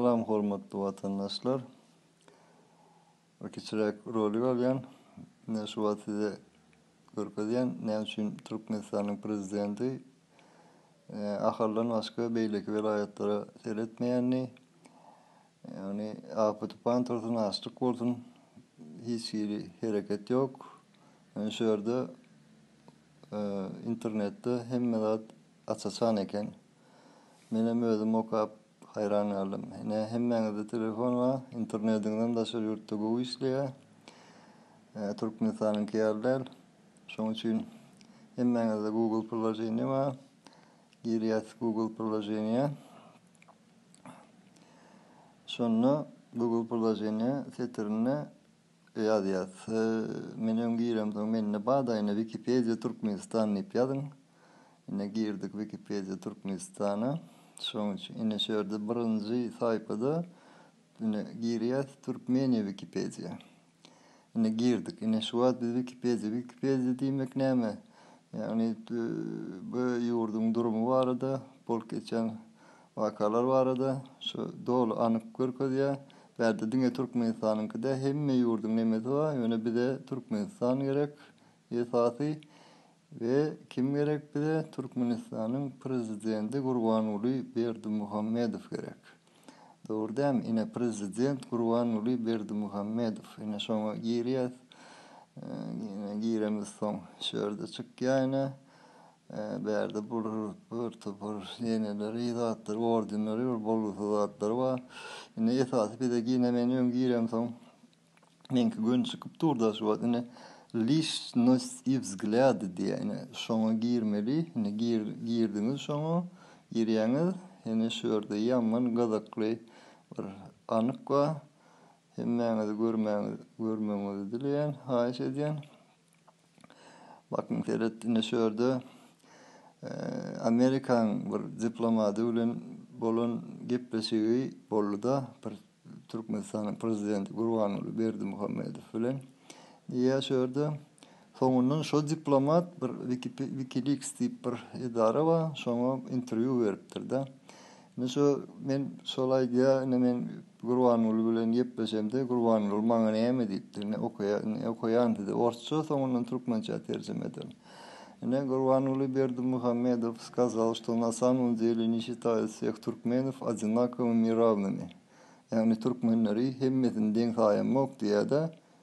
Salam hormatly watandaşlar. Bir kiçiräk rolik alýan. Mine şu wagt size görkezýän näme üçin Türkmenistanyň prezidenti Ahaldan başga beýleki welaýatlara seretmeýänini. Ýagny afet tupan tursyn, açlyk bolsun hiç hili hereket ýok. Ýöne şu ýerde internetde hemme zat aç-açan eken. Menem özüm okap haýran galdym. Ine hemmäňizde telefon bar, internetiňizem daşary ýurtda gowy işleýär. Türkmenistanyňky ýaly däl. Şoň üçin hemmäňizde Google priloženiýe bar. Girýäs Google priloženiýä. Şonda Google priloženiýe setirinde Ýazýas. Men öň giremsoň mende badaýyna Wikipedia Türkmenistan diýip ýazyň. Ine girdik Wikipedia Türkmenistana. Şoň üçin ine şu ýerde birinji saýpada ine girýäs Türkmeniýa Wikipedia. Ine girdik. Ine şu wagt biz Wikipedia Wikipedia diýmek näme? Ýagny bu ýurduň durumy barada bolup geçýän Wakalar barada şu doly anyk görkezýä. Bärde diňe Türkmenistanyňky dä hemme ýurduň nemesi bar. Ýöne bize Türkmenistan gerek esasy we kim gerek bize Türkmenistanyň prezidenti Gurbanguly Berdimuhamedow gerek. Dogry dämi ine prezident Gurbanguly Berdimuhamedow ine şoňa girýäs ine giremizsoň şu ýerde çykýa ine Bärde bir bir topar ýeňeleri, yzatlary, ordenleri, bir bolgusyz zatlary bar. Indi esasy bize gine men öň giremsoň, meňki göni çykyp dur-da, şu wagt indi Lişnost i wzglýady diýýär. Ine, şoňa girmeli. Ine, gir, girdiňiz şoňa. Girýäňiz. Ine, şu ýerde ýaman gyzykly bir anyk bar. Hemmäňizi görmäňizi, görmegiňizi dileýän, haýyş edýän. Bakyn seret ine şu ýerde Amerikaň bir diplomady bilen bolan gepleşigi boldy-da bir Türkmenistanyň prezidenti Gurbanguly Berdimuhamedow bilen. Diýýär şu ýerde soňundan şo diplomat bir Wikileaks diýip bir edara bar şoňa interwýu beripdir-de. Indi şo men şol aýdýa indi men Gurbanguly bilen gepleşemde Gurbanguly maňa näme diýipdir indi okaýa indi okaýan size orsça soňundan türkmençä terjime ederin. Ine Gurbanguly Berdimuhamedow skazal što na samom deli ne şitaýa sveh türkmenov odinakovimi i ravnimi ýagny türkmenleri hemmesini deň saýamok diýýädä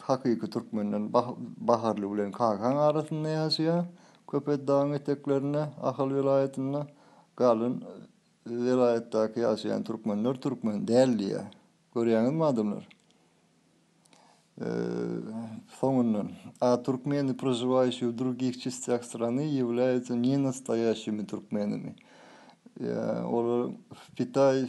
Hakyky türkmenden Baharly bilen Kakaň arasynda ýaşaýar. Köpet dagyň eteklerinde, Ahal welaýatynda galan welaýatdaky ýaşaýan türkmenler türkmen däl diýýär. Görýäňizmi adamlar? Soňundan, A türkmeni, prožiwaýşi w drugih çistýah strany, ýewlýaýatsa nenastoýaşimi türkmenimi. Olar Pitaý,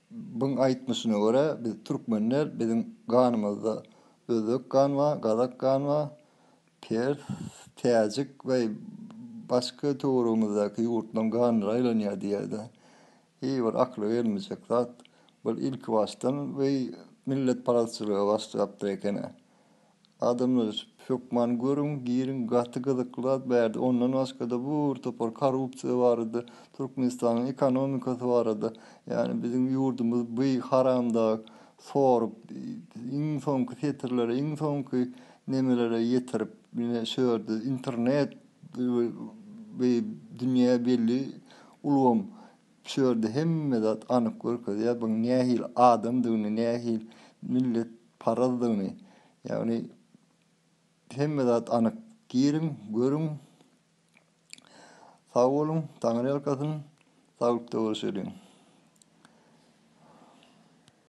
Byň aýtmyşyna görä, biz türkmenler, biziň ganymyzda özbek gan bar, gazak gan bar, pers, täjik we başga töweregimizdäki ýurtlaryň ganlary aýlanýar diýýär-de. Hiý, bir akyla gelmejek zat. Bul ilkibaşdan we milletparazçylyga başlapdyr eken-ä. Adamlar ötüp, hökman görüň, giriň, gaty gyzykly zat bärde. Ondan başgada bu bir topar korrupsiýa barada, Türkmenistanyň ekonomikasy barada, ýani biziň ýurdumyz by haramdag sorup, iň soňky setirlere, iň soňky nemelere ýetirip ine şördi, internet by dünýä belli ulgam şördi hemme zat anyk görkezýär, byň nähili adamdygyny, nähili millet. parazdygyny, ýagny hemme zat anyk. Giriň, görüň. Sag boluň, Taňryýalkasyn, saglykda bolşalyň.